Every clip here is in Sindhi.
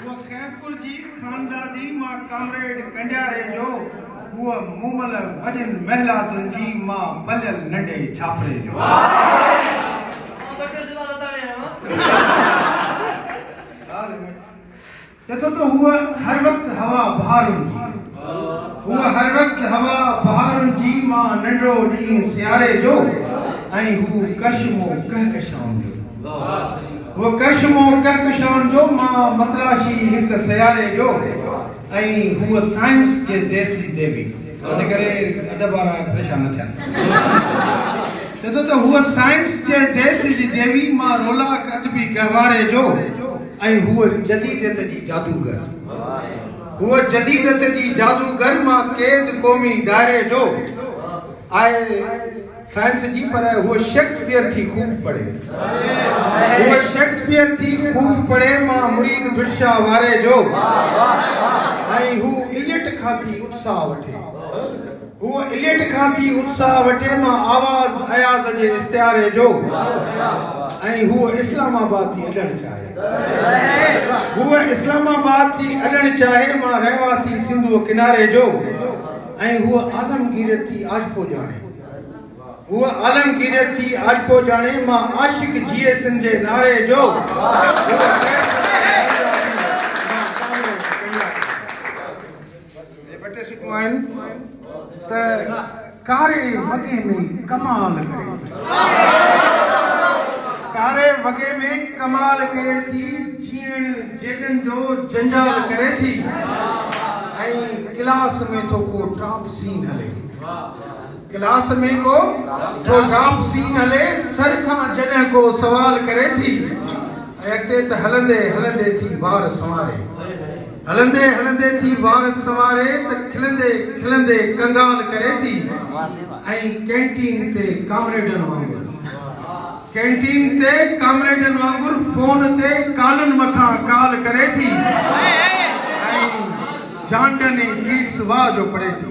هو خيرپور جي خانزادي مان ڪامريڊ ڪنڊياري جو هو مومل وڏين محلاتن جي مان پليل ننڍي ڇاپري جو. تتو ته هوء هر وقت هوا بهارن جي. هوء هر وقت هوا بهارن جي مان ننڊڙو ڏينهن سياري جو ۽ هو ڪرشمو ڪهڪشائن جو. هوء ڪرشمو ڪهڪشائن جو مان متلاشي هڪ سياري جو ۽ هوء سائنس جي تيسري ديوي. ان ڪري ادب وارا پريشان نه ٿين. تتو ته هوء سائنس جي تيسري جي ديوي مان رولاڪ ادبي گهواري جو. ۽ هوء جديديت جي جادوگر. هوء جديديت جي جادوگر مان قيد قومي دائري جو آهي سائنس جي پر هوء شيڪسپيئر ٿي خوب پڙهي. هوء شيڪسپيئر ٿي خوب پڙهي مان مريد برشا واري جو ۽ هو اليٽ کان ٿي اتساهه وٺي. هو اليٽ کان ٿي اتساهه وٺي مان آواز اياز جي استعاري جو ۽ هو اسلام آباد ٿي اڏڻ چاهي هو اسلام آباد ٿي اڏڻ چاهي مان رهواسي سنڌو ڪناري جو ۽ هو عالمگيريت ٿي آجپو ڄاڻي هو عالمگيريت ٿي آجپو ڄاڻي مان عاشق جي سن جي ناري جو جي ٻه ٽي سٽون آهن ته ڪاري وڳي ۾ ڪمال ڪري ٿي ڪاري وڳي ۾ ڪمال ڪري ٿي جيئڻ جيڏن جو جنجال ڪري ٿي ۽ ڪلاس ۾ ٿو ڪو ٽاپ سين هلي ڪلاس ۾ ڪو ڊاپ سين هلي سر کان جڏهن ڪو سوال ڪري ٿي ۽ اڳتي ته هلندي هلندي ٿي وار سنواري هلندي هلندي ٿي وار سنواري ته کلندي کلندي ڪنگال ڪري ٿي ۽ ڪينٽين تي ڪامريڊن وانگر ڪينٽين تي ڪامريڊن وانگر فون تي ڪالن مٿان ڪال ڪري ٿي ۽ جانڊن ۽ ڪيٽس واء جو پڙهي ٿي.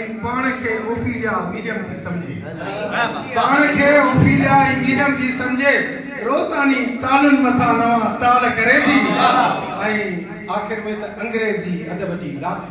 ۽ پاڻ کي اوفيليا ميڊيم ٿي سمجهي پاڻ کي اوفيليا ئي ميڊيم ٿي سمجهي روزاني تالن مٿان نوان تال ڪري ٿي ۽ آخر ۾ ته انگريزي ادب جي لاکڙي.